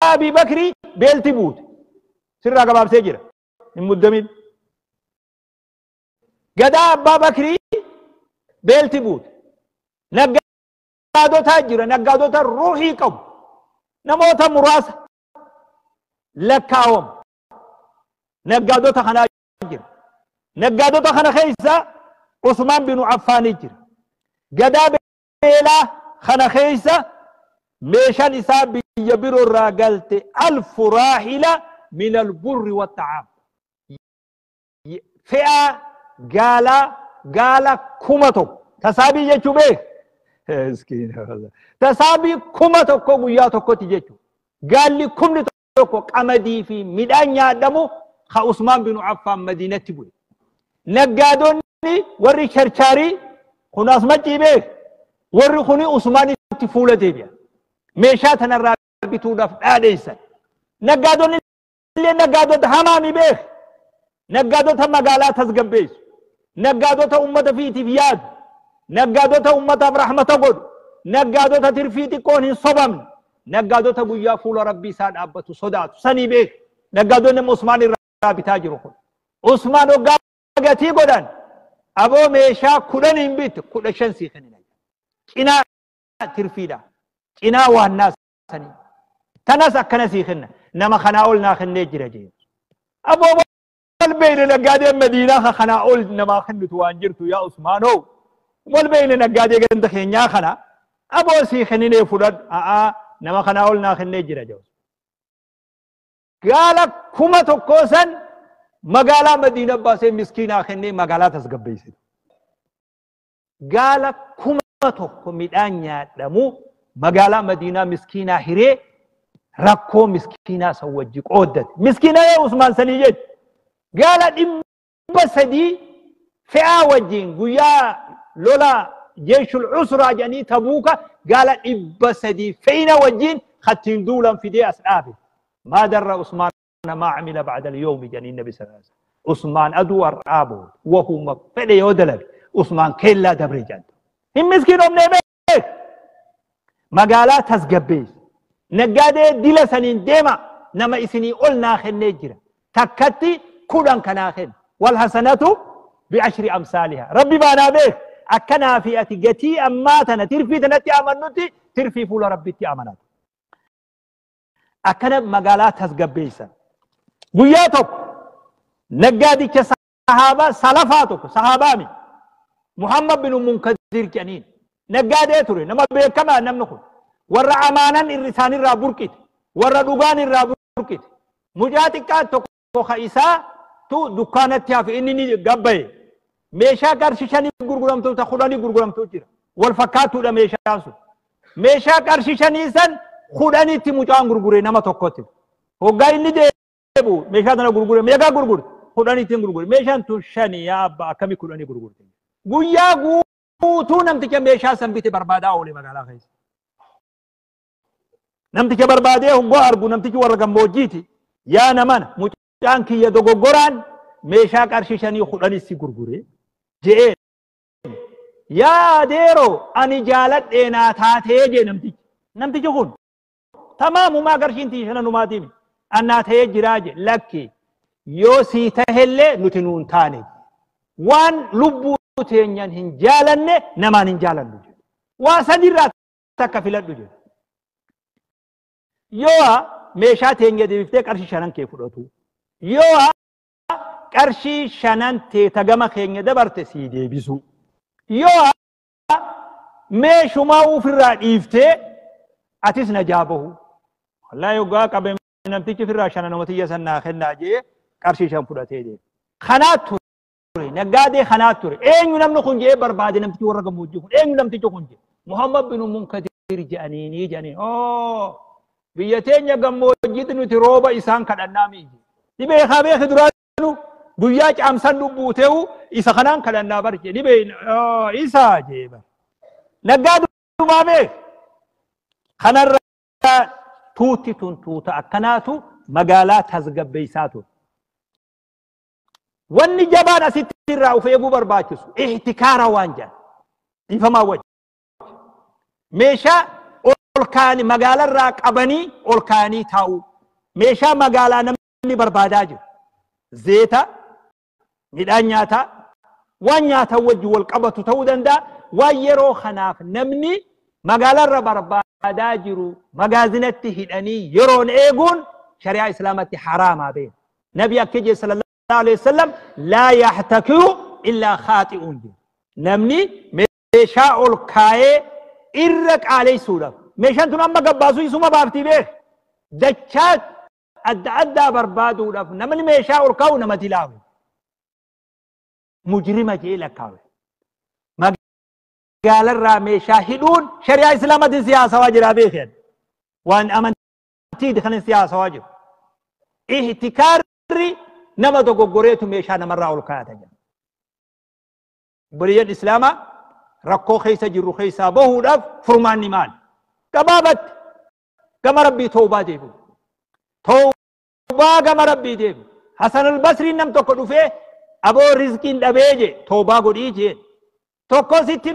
Abii Bakrii beelti buute. Sirraa gabaabsee jira. Hin muddamin. Gadaa Abbaa Bakrii beelti buute. Naggaadotaa jira. Naggaadota ruuhii qabu. Namoota muraasa lakkaawamu. Naggaadota kanaa jira. Naggaadota kana keessa Usmaan binu Affaanii jira. Gadaa Beelaa kana keessa meeshan isaa biyya biro irraa galte alfu raahila min alburri watta'aam. Fe'aa gaalaa gaala kuma tokko. Tasaabii jechuu beek. Tasaabii kuma tokko guyyaa tokkotti jechuudha. Gaalli kumni tokko qamadii fi midhaan nyaadhamu ka Usmaan bin Affaan Madiinatti bu'e. Naggaadonni warri charchaarii kun as maccii beek warri kuni Usmaanitti fuula deebi'a. Meeshaa tanarraa bituudhaaf dhaadheessan. Naggaadonni illee naggaadota hamaa mi beek. Naggaadota magaalaa tasgabbeessu. Naggaadota ummata fiitiif yaadu. Naggaadota ummataaf rahmata godhu. Naggaadota tirfii xiqqoon hin sobamne. Naggaadota guyyaa fuula Rabbii isaa dhaabbatu sodaatu. Sanii beeka. Naggaadonni amma Usmaan irraa bitaa jiru kun. Usmaan hoggaa gatii godhan aboo meeshaa kudhan hin bitte kudha shan sii kennina. Cinaa tirfiidha. Cinaa waannaa sanii tanas akkana sii kenna nama kanaa ol naa kennee jira jeen aboo wal beeyne naggaadee madiinaa ka kanaa ol namaa kennitu waan jirtu yaa usmaanoo wal beeyne naggaadee ganda keenyaa kana aboo sii kenninee fudhadhu a'aa nama kanaa ol naa kennee jira jeen gaala kuma tokkoo san magaalaa madiina baasee miskiinaa kennee magaalaa tasgabbeessitu gaala kuma tokko midhaan nyaadhamu magaalaa madiinaa miskiinaa hiree rakkoo miskiinaa san wajji qooddate miskiinaa yoo usmaan sanii jechu gaala dhibba sadii fe'aa wajjiin guyyaa lola jeeshul usraa jedhanii tabuuka gaala dhibba sadii fe'ina wajjiin kattiin duulan fidee as dhaabe maadarra usmaan kana maa camila bacda alyawmi jedhaniin nabi sallallahu alaihi wasallam usmaan aduu har'aa booda wahuma fedhe yoo dalage usmaan keellaa dabre jedhan hin miskiinomnee beek magaalaa tasgabbeessi naggaadee dila saniin deema nama isinii ol naa kennee jira takkatti kudhan kanaa kenna wal hasanatu bi'ashri amsaaliha rabbi baanaa beek akkanaa fi ati gatii ammaa tana tirfii tanatti amannutti tirfii fuula rabbitti amanatu akkana magaalaa tasgabbeessan. Guyyaa tokko naggaadicha sahaabaa salafaa tokko sahaabaa mi Muhammad bin Munkadir jedhaniin naggaadee ture nama beekamaa namni kun warra amaanan irri isaanirraa burqite warra dhugaan irraa burqite mucaa xiqqaa tokko Muka isaa tu dukkaanatti hafe inni ni gabbaye. Meeshaa qarshi shanii gurguramtu ta kudhanii gurguramtu jira. Wal fakkaatuudha meeshaan sun. Meeshaa qarshi shanii san kudhanitti mucaan gurgure nama tokkotti. Hoggaa inni deebu meeshaa tana gurgure meeqaa gurgure kudhanitti gurgure meeshaan tun shanii yaa abbaa akkamii kudhanii gurgurte. Guyyaa guutuu namticha meeshaa san bite barbaadaa oole magaalaa keessa. Namticha barbaadee hoggaa argu namtichi warra gammoojjiiti. Yaa naman mucaan kiyya dogoggoraan meeshaa qarshii shanii kudhanis si gurgure je'een. Yaa adeeroo ani jaaladhee naa taatee jee namtichi. Namtichi kun tamaamumaa qarshiin tiyya shananumaatiimi. An naa ta'ee jiraa jee lakki yoo sii tahellee nuti nuun taane. Waan lubbuu teenyan hin jaalanne namaan hin jaalannu. Waa sadirraa takka filadhu jedhe. Yoo meeshaa teenya deebiftee qarshii shanan kee fudhatu. Yoo qarshii shanan tee tagama keenya dabarte sii deebisu. Yoo meeshumaa ofirraa dhiiftee atis najaa bahu. Wallaahi yoggaa qabe namtichi ofirraa shanan omatiyya san naa kennaa jee qarshii shan fudhatee deema. Kanaa ture. ture naggaadee kanaa ture eenyu namni kun jedhee barbaade namtichi warra gammoojjii kun eenyu namtichi kun jedhe muhammad bin munkadir jedhaniinii jedhanii oo biyya teenya gammoojjiitti nuti rooba isaan kadhannaa mi'i ni beekaa beeki duraanu guyyaa caamsan lubbuu ta'u isa kanaan kadhannaa bar jedhe ni beekna oo isa jedhe bar naggaa dumaa beek kanarra tuutti tun tuuta akkanaatu magaalaa tasgabbeessaa ture Wanni jabaan asitti irraa of eeguu barbaachisu ihtikaara waan jedhan dhiifamaa wajji. Meeshaa ol kaa'anii magaalarraa qabanii ol kaa'anii taa'uu. Meeshaa magaalaa namni barbaadaa jiru. Zeeta, midhaan nyaataa, waan nyaataa wajji wal qabatu ta'uu danda'a. Waan yeroo kanaaf namni magaalarra barbaadaa jiru magaazinatti hidhanii yeroon eeguun shari'aa islaamatti haraamaa beeku. Nabi akka jee sallallahu alaihi wasallam laa yaxtakiru illaa khaaxi'uun jee. Namni meeshaa ol kaayee irra qaaleysuudhaaf. Meeshaan tun amma gabbaasuu isuma baaftii beek. Dachaa adda addaa barbaaduudhaaf namni meeshaa ol kaa'u namatti laamu. Mujrima jee lakkaawe. Magaalarraa meeshaa hidhuun shari'aa islaamatiin siyaasawaa jiraa beekan. Waan amantii Amantiiti kan si haasawaa jiru. Ihtikaarri nama dogoggoreetu meeshaa namarraa ol kaayata jedha. Obboleeyyan Islaamaa rakkoo keessa jirru keessaa bahuudhaaf furmaanni maali? Gabaabatti gama rabbii toobaa deebi'u. Toobaa gama rabbii deebi'u. Hasan al-Basriin nam tokko dhufee aboo rizqiin dhabee jee toobaa godhii jee. Tokko sitti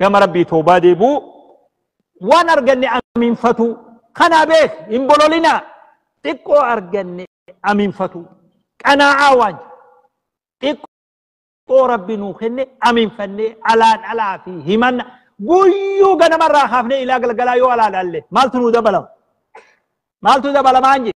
gama rabbii toobaa deebuu waan arganne amiinfatuu kanaa beek hin bololinaa xiqqoo arganne amiinfatuu qanaa'aa waan jedhu. xiqqoo rabbi nuu kenne amiinfannee alaan alaa fi himanna guyyuu ganamarraa kaafnee ilaa galgalaa yoo alaa laalle maaltu nuu dabalama maaltu dabalamaan jedhe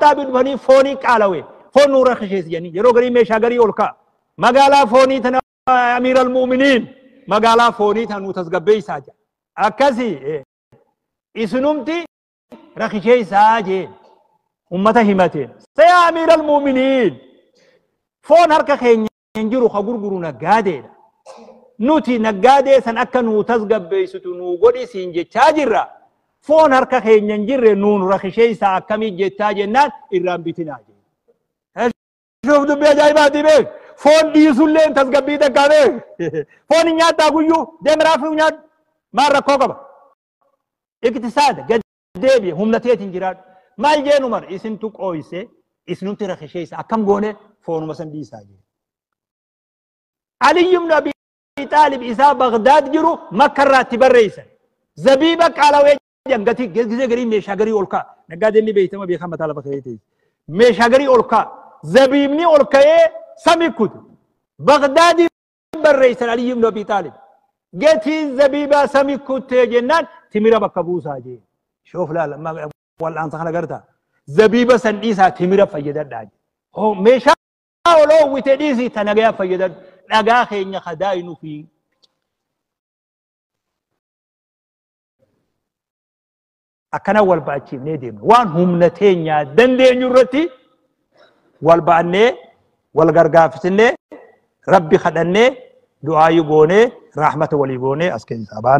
Xaabii dhufanii foonii qaalawe foon nuu rakkisheessi jedhanii yeroo garii meeshaa garii ol ka'a. Magaalaa foonii tana amiir al-mu'miniin magaalaa foonii tana nuu tasgabbeessaa jedha. Akkasii isinumti rakkisheessaa jeen ummata himateen. Sayaa amiir al-mu'miniin foon harka keenya hin jiru ka gurguru naggaadeedha. Nuti naggaadee san akka nuu tasgabbeessitu nuu godhi siin jechaa jirra. Foon harka keenya hin jirre nuun rakisheessaa akkamii jettaa jennaan irraan bitinaa jedhe. Shuuf dubbii ajaa'ibaati beek. Foon dhiisullee hin tasgabbii takkaa beek. Foon hin nyaattaa guyyuu deem raafuu nyaadhu. Maal rakkoo qaba? Iktisaada gadi. deebi'e humna teetiin jiraadhu. Maal jeen Umar isintu qooyse isinumti rakisheessa akkam goone foonuma san dhiisaa jee. Aliyyi ibn Abi Xaalib isaa Bagdaad jiru makka irraatti barreessan. Zabiiba qaalawee jedhan gatii gisee garii meeshaa garii ol ka'a. Naggaadeen ni beektama beekan mataa lafa ka'ee ta'e. Meeshaa garii ol ka'a. Zabiibni ol ka'ee sami kute. Bagdaadii barreessan Aliyyi ibn Abi Xaalib. Gatiin zabiibaa sami kuttee jennaan timira bakka buusaa jee. Shoof laala wal'aansa kana gartaa. Zabiiba san dhiisaa timira fayyadadhaa jee. Hoo meeshaa ol oowwite dhiisii ta nagayaa fayyadadhu. Dhagaa keenya kadaayi nufi. Akkana wal ba'achiifnee deemna. Waan humna teenyaa dandeenyu irratti wal ba'annee wal gargaafisnee rabbi kadhannee du'aayi goonee raahmata walii goonee as keessaa baana.